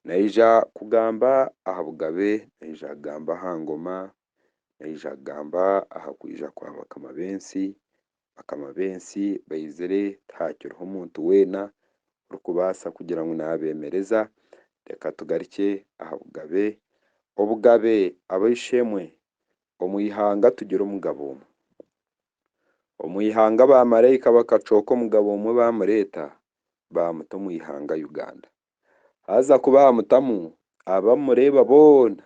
Naija kugamba aha bugabe, naija kugamba aha ngoma, naija kugamba aha kwija kwa bakama b'ensi, bakama b'ensi baizire tihakiriho muntu weena orikubaasa kugira ngu naabemereza, reka tugarukye aha bugabe, obugabe ab'eishe-emwe omu ihanga tugire omugabo omwe. Omu ihanga baamaraika bakacooka omugabo omwe baamureeta baamuta omu ihanga Uganda. Haza ku baamutamu, aba mureeba boona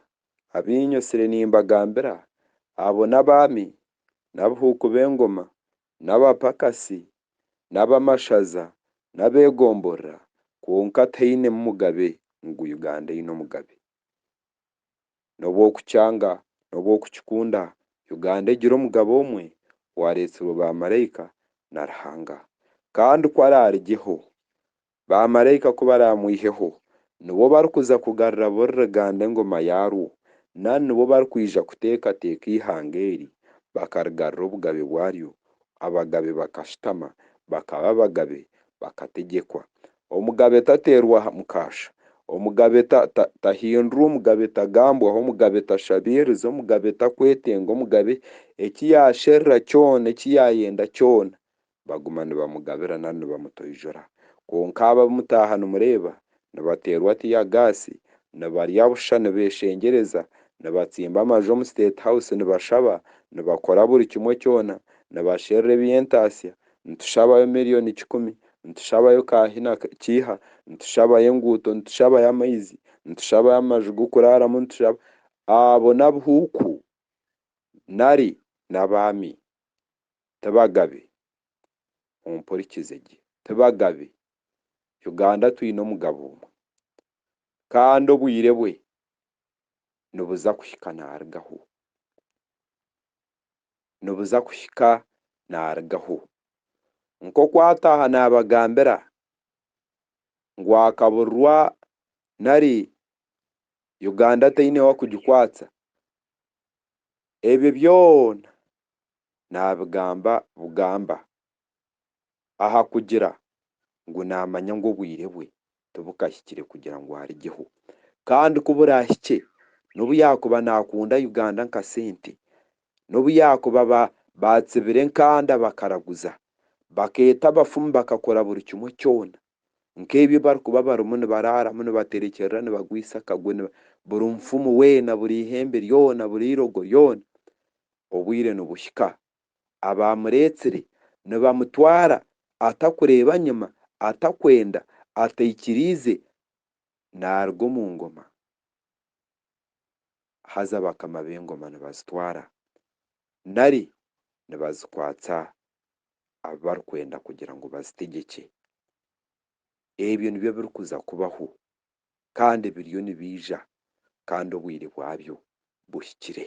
abainywe tsire nimbagambira, abo n'abaami, n'abihuuku b'engoma, n'abapakasi, n'abamashaza, n'abeegomborora, kwonka tainemu mugabe ngu Uganda eine omugabe. nobu okukyanga nobu okukikunda Uganda egire omugaba omwe owareetsirwe ba maraika na Ruhanga kandi ku araarigyeho ba maraika ku baraamwiheho nibo barikuza kugarura buri ruganda engoma yaarwo nari nibo barikwija kuteekateeka eihanga eri bakarigarura obugabe bwaryo Abagabe bakashutama, bakaba abagabe, bakategyekwa. Omugabe tateerwa mukaasha. Omugabe tahindurwa, omugabe tagambwaho, omugabe tashabiiriza, omugabe takwetenga, omugabe eki yaasherura kyona, eki yaayenda kyona, baguma nibamugabira nari nibamutoijura. Kwonka aba abu mutaaha nimureeba, nibateerwa tiyagaasi, nibarya busha, nibeeshengyereza, nibatsimba amaju omu State House, nibashaba, nibakora buri kimwe kyona, nibasherura eby'entaatsya, nitushabayo milioni kikumi, nitushabayo ka hi na kiiha, nitushabayo enguuto, nitushabayo amaizi, nitushabayo amaju g'okuraaramu, nitushaba. Abo n'abuhuuku nari n'abaami. Ti bagabe. Ompurikize gye. Ti bagabe. Uganda twine omugabo omwe kandi obwire bwe nibuza kuhika naarugaho, nibuza kuhika naarugaho. Nk'oku ataaha naabagambira ngu akaburirwa nari Uganda teine wakugikwatsa, ebyo byona naabigamba bugamba. aha kugira ngu naamanya ngu obwire bwe tibukahikire kugira ngu arigyeho kandi ku buraahikye n'obu yaakuba naakunda Uganda nka sente, n'obu yaakuba baatsibira enkanda bakaraguza, bakeeta abafumu bakakora buri kimwe kyona nk'ebi ebibarikuba barimu nibaraaramu nibaterekyerera nibagwisa akagwe buri mufumu weena buri ihembe ryona buri eirogo ryona obwire nibuhika abaamureetsire nibamutwara atakureeba nyima, atakwenda, ataikiriize naaruga omu ngoma, haza bakama b'engoma nibazitwara nari nibazikwatsa abu barikwenda kugira ngu bazitegyekye. Ebyo nibyo birikuza kubaho kandi biriyo nibiija kandi obwire bwabyo buhikire.